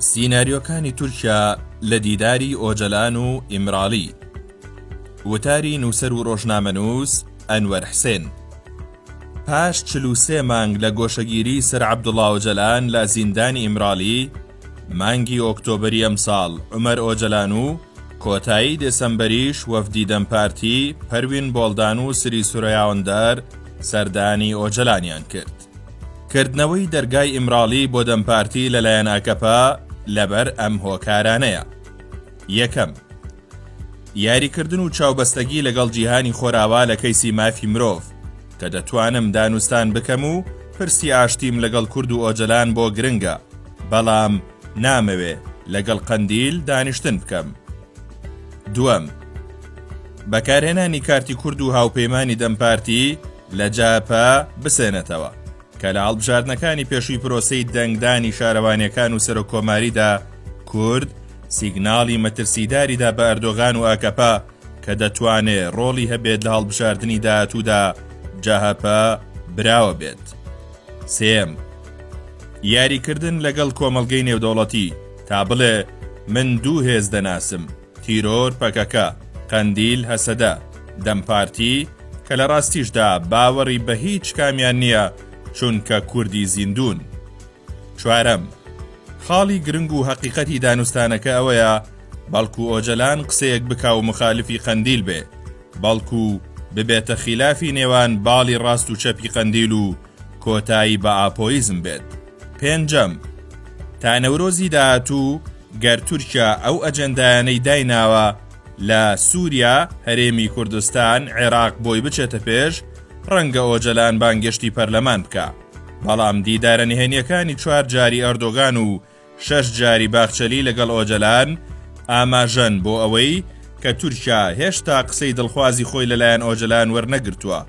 سیناریۆکانی تورکیا لە دیداری ئۆجەلان و ئیمراڵی وتاری نووسەر و ڕۆژنامەنووس ئەنوەر حسێن پاش چل و سێ مانگ لە گۆشەگیری سەر عەبدوڵا ئۆجەلان لە زیندانی ئیمراڵی مانگی ئۆکتۆبری ئەمساڵ عومەر ئۆجەلان و کۆتایی دێسەمبەریش وەفدی دەم پارتی پەروین بۆڵدان و سری سورەیاوەندەر سەردانی ئۆجەلانیان کرد. کردنەوەی دەرگای ئیمراڵی بۆ دەم پارتی لەلایەن ئاکەپە لەبەر ئەم هۆکارانەیە یەکەم یاریکردن و چاوبەستەگی لەگەڵ جیهانی خۆراوا لە کەیسی مافی مرۆڤ کە دەتوانم دانوستان بکەم و پرسی ئاشتیم لەگەڵ کورد و ئۆجەلان بۆ گرنگە بەڵام نامەوێ لەگەڵ قەندیل دانیشتن بکەم دووەم بەکارهێنانی کارتی کورد و هاوپەیمانانی دەمپارتی لە جاپا بسێنێتەوە. کە لە هەڵبژاردنەکانی پێشووی پرۆسەی دەنگدانی شارەوانیەکان و سەرۆک کۆماریدا کورد سیگناڵی مەترسیداریدا بە ئەردۆغان و ئاکەپە کە دەتوانێ ڕۆڵی هەبێت لە هەڵبژاردنی داهاتوودا جەهەپە براوە بێت. سێم، یاریکردن لەگەڵ کۆمەڵگەی نێودەوڵەتی تا بڵێ من دوو هێز دەناسم، تیرۆر پەکەکە، قەندیل هەسەدە، دەم پارتی، کە لە ڕاستیشدا باوەڕی بە هیچ کامیان نییە چونکە کوردی زیندوون. چوارەم، خاڵی گرنگ و هەقیقەتی دانوستانەکە ئەوەیە بەڵکو ئۆجەلان قسەیەک بکا و مخالفی قەندیل بێ، بەڵکو ببێتە خیلافی نێوان باڵی ڕاست و چەپی قەندیل و کۆتایی بە ئاپۆیزم بێت. پێنجەم، تا نەورۆزی داهاتوو گەر تورکیا ئەو ئەجێندایانەی دایناوە لە سووریا، هەرێمی کوردستان، عێراق بۆی بچێتە پێش، ڕەنگە ئۆجەلان بانگێشتی پەرلەمان بکا. بەڵام دیدارە نهێنییەکانی چوار جاری ئەردۆگان و شەش جاری باخچەلی لەگەڵ ئۆجەلان ئاماژەن بۆ ئەوەی کە تورکیا هێشتا قسەی دڵخوازی خۆی لەلایەن ئۆجەلان وەرنەگرتووە،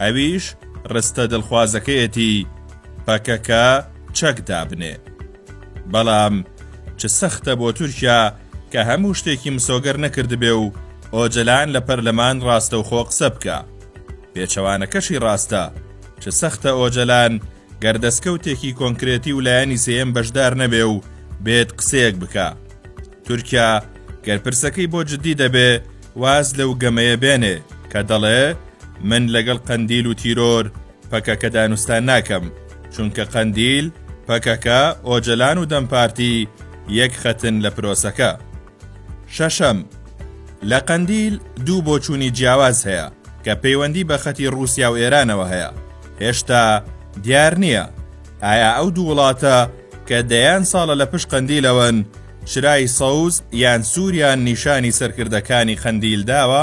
ئەویش رستە دڵخوازەکەیەتی پەکەکە چەک دابنێ. بەڵام چ سەختە بۆ تورکیا کە هەموو شتێکی مسۆگەر نەکردبێ و ئۆجەلان لە پەرلەمان راستەوخۆ قسە بکا. پێچەوانەکەشی راستە، چ سەختە ئۆجەلان گەر دەستکەوتێکی کۆنکرێتی و لایەنی سێیەم بەشدار نەبێ و بێت قسەیەک بکە تورکیا گەر پرسەکەی بۆ جددی دەبێ واز لەو گەمەیە بێنێ کە دەڵێ من لەگەڵ قەندیل و تیرۆر پەکەکە دانوستان ناکەم چونکە قەندیل پەکەکە ئۆجەلان و دەمپارتی یەک خەتن لە پرۆسەکە. شەشەم، لە قەندیل دوو بۆچوونی جیاواز هەیە کە پەیوەندی بە خەتی ڕووسیا و ئێرانەوە هەیە، هێشتا دیار نییە ئایا ئەو دوو وڵاتە کە دەیان ساڵە لە پشت قەندیلەوەن چرای سەوز یان سووریان نیشانی سەرکردەکانی قەندیل داوە؟